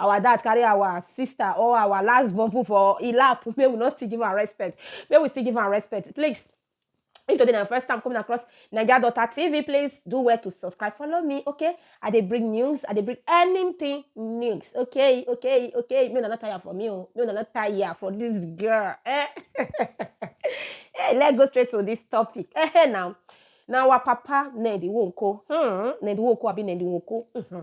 Our dad carry our sister or our last born put for e lap make we no still give am respect make we still give am respect please if today na first time coming across naija daughter tv please do well to subscribe follow me okay i dey bring news i dey bring anything news okay okay okay make una no tire for me o make una no tire for this girl eh hey, let's go straight to this topic eh hey, now na our papa ned nwoko hmm ned nwoko abi ned nwoko hmm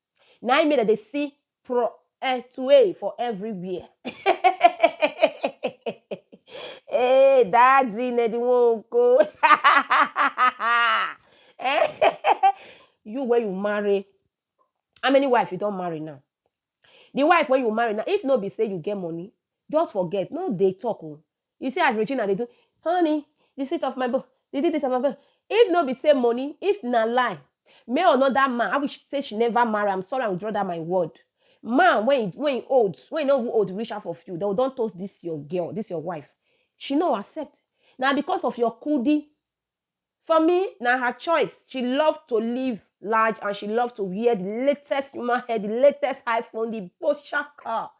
Na im make dem dey see pro eh tway for everywhere. hey, daddy ne di wonko. eh, you wey you marry, how many wife you don marry now? The wife wey you marry now, if no be say you get money, just forget, no dey talk o. You see as Regina dey do honey the sweet of my bone the di dis of my bone if no be say money if na lie may another man I wish say she never marry am sorry I withdraw that my word man when he when he old when he no even old reach half of you they will don toast this your girl this your wife she no accept na because of your kudi For me, na her choice. She love to live large and she love to wear the latest human hair, the latest iPhone, the Porsche car.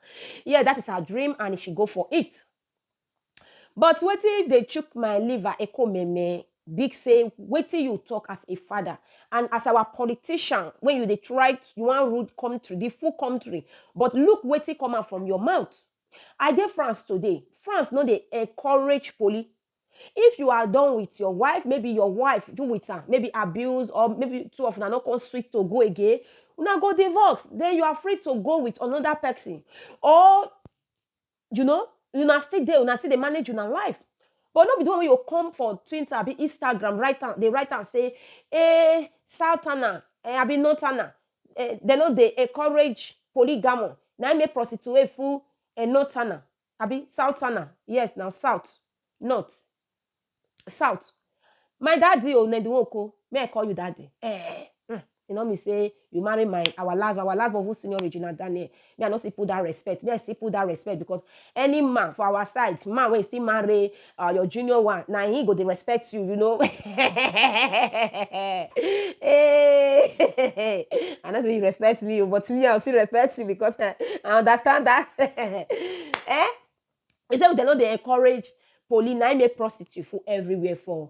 Yeah, that is her dream and she go for it. But wetin if they chook my liver echo meme? Big say wetin you talk as a father and as our politician when you dey try you wan rule country, the full country, but look wetin come out from your mouth. I dey France today. France no dey encourage poli. If you are done with your wife, maybe your wife do with am, maybe abuse or maybe two of una no come sweet to go again, una go divorce. Then you are free to go with another person. Or, you know, una still there, una still dey manage una life. But no be the one wey you come for Twitter, abi Instagram, write am, dey write am say, eh, Southerner, eh, abi Northerner, eh, they no dey encourage polygamy. Na im make prostitute full eh, Northerner. abi southerner yes na south not south my daddy o na the one ko may I call you daddy eh mm. e no mean say you marry my our last our last born senior Regina Daniel me I no still put that respect me I still put that respect because any man for our side man wey still marry uh, your junior one na he go dey respect you you know hey i no say you respect me o but me i go still respect you because eh, i understand that eh he say dem no dey encourage police na im make prostitute full everywhere for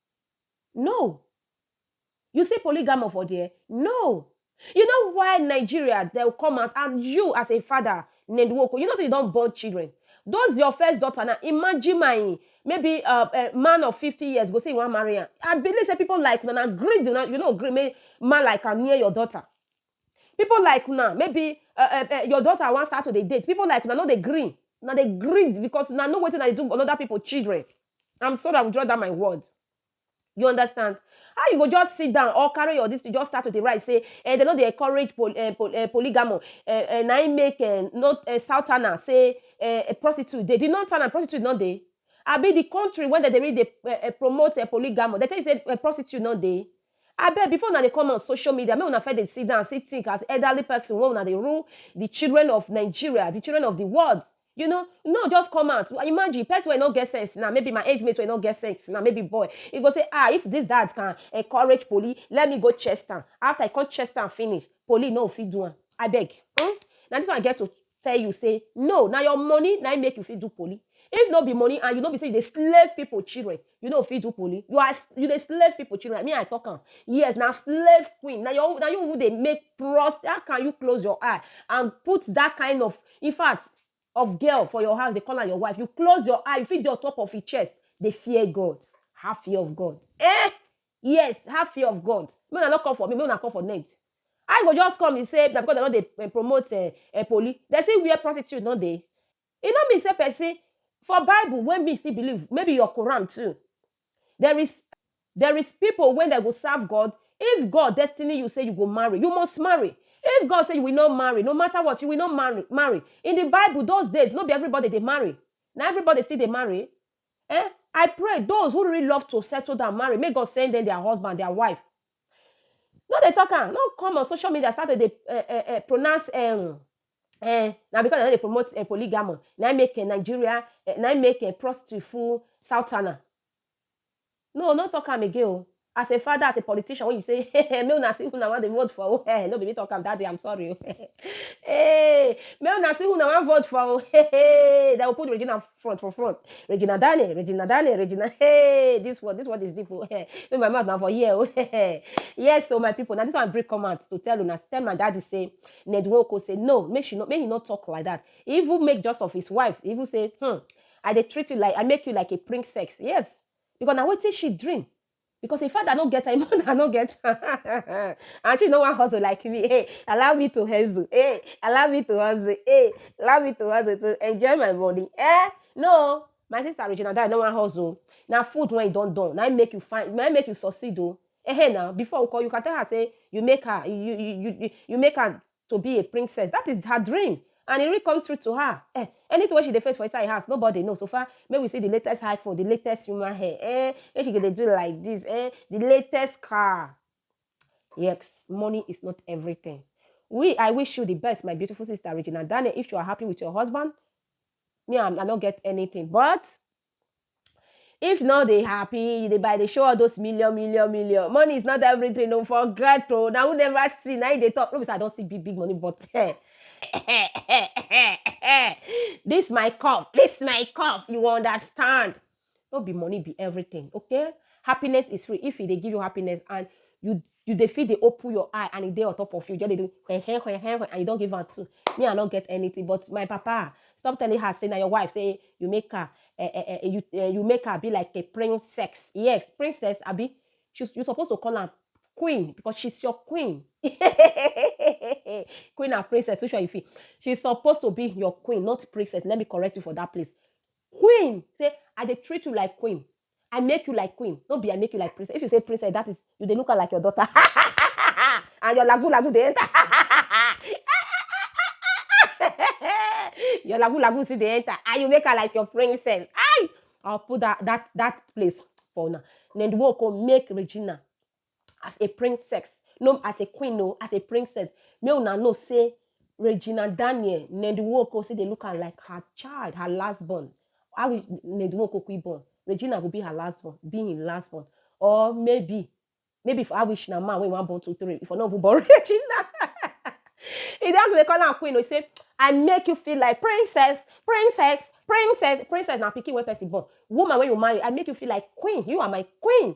No. You see polygamo for there? No. You know why Nigeria they will come out and you as a father, Nenduoko, you know say you don't born children. Those your first daughter now, imagine my maybe uh, a man of 50 years go say you want marry her. I believe say people like una na greed una, you know greed make man like am near your daughter. People like una maybe uh, uh, uh, your daughter wan start to dey date. People like una no dey gree. Una dey greed because una know wetin una dey do another people children. I'm sorry, I will draw down my word. You understand? How you go just sit down or carry your this thing, just start to dey write say eh, they no dey encourage pol, eh, pol, eh, polygamy. Eh, eh, na im make eh, not eh, southerner say eh, eh, prostitute dey. The northerner prostitute no dey. Abi the country when they dey really dey eh, eh, promote eh, polygamy, they tell you say eh, prostitute no dey. Abeg before una dey come on social media make una first dey sit down still think as elderly person wey una dey rule the children of Nigeria, the children of the world you know, no just come out imagine person wey no get sense now maybe my age mate wey no get sense now maybe boy he go say ah if this dad can encourage police let me go chest am after he come chest am finish police no go fit do am abeg um na this one I get to tell you say no na your money na im make you fit do poly if no be money and you no be say you dey slave people children you no fit do poly you are you dey slave people children me i talk am yes na slave queen na your na you who dey make trust how can you close your eye and put that kind of in fact of girl for your house dey call am your wife you close your eye you fit dey on top of him chest dey fear God have fear of God eh Yes, have fear of God. Make una no come for me, make una come for Ned. How you go just come you say na because dem no dey eh, promote eh, eh, poli, dem see where prostitute no dey. E no mean say person for Bible wey me still believe, maybe your Quran too. There is there is people wey dem go serve God. If God destiny you say you go marry, you must marry. If God say you will not marry, no matter what, you will not marry. Marry in the Bible those days, no be everybody dey marry. Na everybody still dey marry. Eh I pray those who really love to settle down marry make God send them their husband their wife no dey talk am no come on social media start to dey eh, eh, eh, pronounce um, eh, na because dem no dey promote eh, polygamy na im make eh, Nigeria eh, na im make eh, prostitute full southerner No, no talk am again o. As a father, as a politician wey you say hehe make una see who una wan dey vote for o hehe no be me talk am that day I'm sorry o hehe eeh make una see who una wan vote for o hehe dem go put Regina front for front Regina Dani Regina Dani Regina eeh this world this world is deep o hehe no be my mouth na for here o hehe yes o my people na this one I bring come out to tell una tell my daddy say Ned Nwoko say no make she no make he no talk like that he even make just of his wife he even say hmm I dey treat you like I make you like a princess yes Because na wetin she dream because im father no get am, im mother no get am and she no wan hustle like me. Hey, allow me to hustle. Hey, allow me to hustle. Hey, allow me to hustle to enjoy my money. Eh? No, my sister Regina Dye no wan hustle. Na food when you don done, na make you find, na make you succeed o. Eh, hey, now before we call you can tell her say you make her, you you you you make her to be a princess that is her dream and e real come true to her eh anything wey she dey face for inside house nobody know so far make we see the latest high phone the latest human hair eh make she go dey do like this eh the latest car yes money is not everything we i wish you the best my beautiful sister regina daniel if you are happy with your husband me i, I no get anything but If you no dey happy, you dey buy, dey show all those million, million, million. Money is not everything. Don't forget, oh. Now, who never see? Now, you dey talk. No, be say I don't see big, big money, but eh, eh, eh, eh, eh, this my cup, this my cup. You understand? No be money be everything, okay? Happiness is free. If e dey give you happiness and you You dey fit dey open your eye and e dey on top of you, you just dey do hen hen hen hen hen and you don give am two. Me I no get anything but my papa stop telling her say na your wife say you make her eh, eh, eh, you, eh, you make her be like a princess. Yes, princess abi? She, you suppose to call am queen because she's your queen. queen and princess, which one you feel? She's supposed to be your queen, not princess. Let me correct you for that place. Queen, say I dey treat you like queen. I make you like queen, no be I make you like princess. If you say princess, that is you dey look her like your daughter. and your lagu lagu dey enter. your lagu lagu see dey enter. And you make her like your princess. I I'll put that that that place for now. Nenduoko make Regina as a princess no as a queen no as a princess make una know say regina daniel nedwoko say dey look am like her child her last born how we nedwoko quick born regina go be her last born be im last born or maybe maybe if i wish na man wey wan born two three if i no even born regina e don dey call am queen o say i make you feel like princess princess princess princess na pikin wey person born woman wey you marry i make you feel like queen you are my queen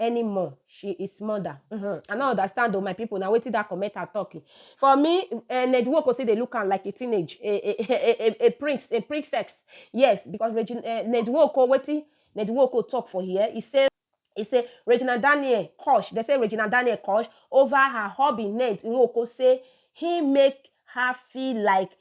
anymore she is mother uhmm i no understand o my people na wetin that commenter talk eh. for me eh, ned nwoko still dey look am like a teenage a a a a a prince a princess yes because regina eh, ned nwoko wetin ned nwoko talk for here he say he say regina daniel kosh they say regina daniel kosh over her hubby ned nwoko say he make her feel like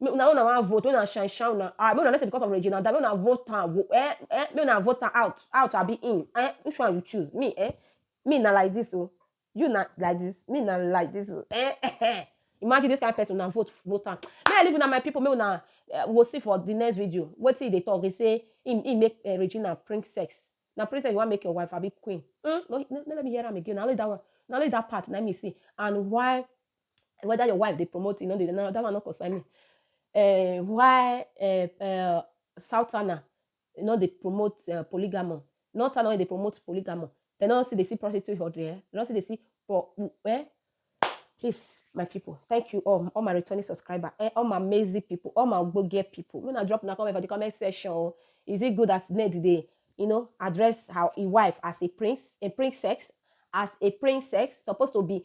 Make una una wan vote, make una shine shine una eye, make una no say because of Regina die, make una vote am wo eh eh, make una vote am out out abi in eh, which one you choose? Me eh, me na like this o, oh. you na like this, me na like this o oh. eh eh eh. Imagine this kind of person una vote vote am. Make I leave una my people, make una uh, go see for the next video. Wetin he dey talk, he say he, he make uh, Regina prank sex. Na prank sex you wan make your wife abi queen. Mm? No, no, no, let me hear am again. Na only that one, na only that part na me see. And why whether your wife dey promote you no dey no, that one no concern me uh, why uh, uh, southerner no dey promote uh, polygamy northerner no dey promote polygamy dem no see dey see prostitute for there dem no see dey see for eh please my people thank you all all my returning subscriber eh, all my amazing people all my ogbonge people when i drop una comment for the comment section oh, is it good as ned dey you know address her, her wife as a prince a princess as a princess supposed to be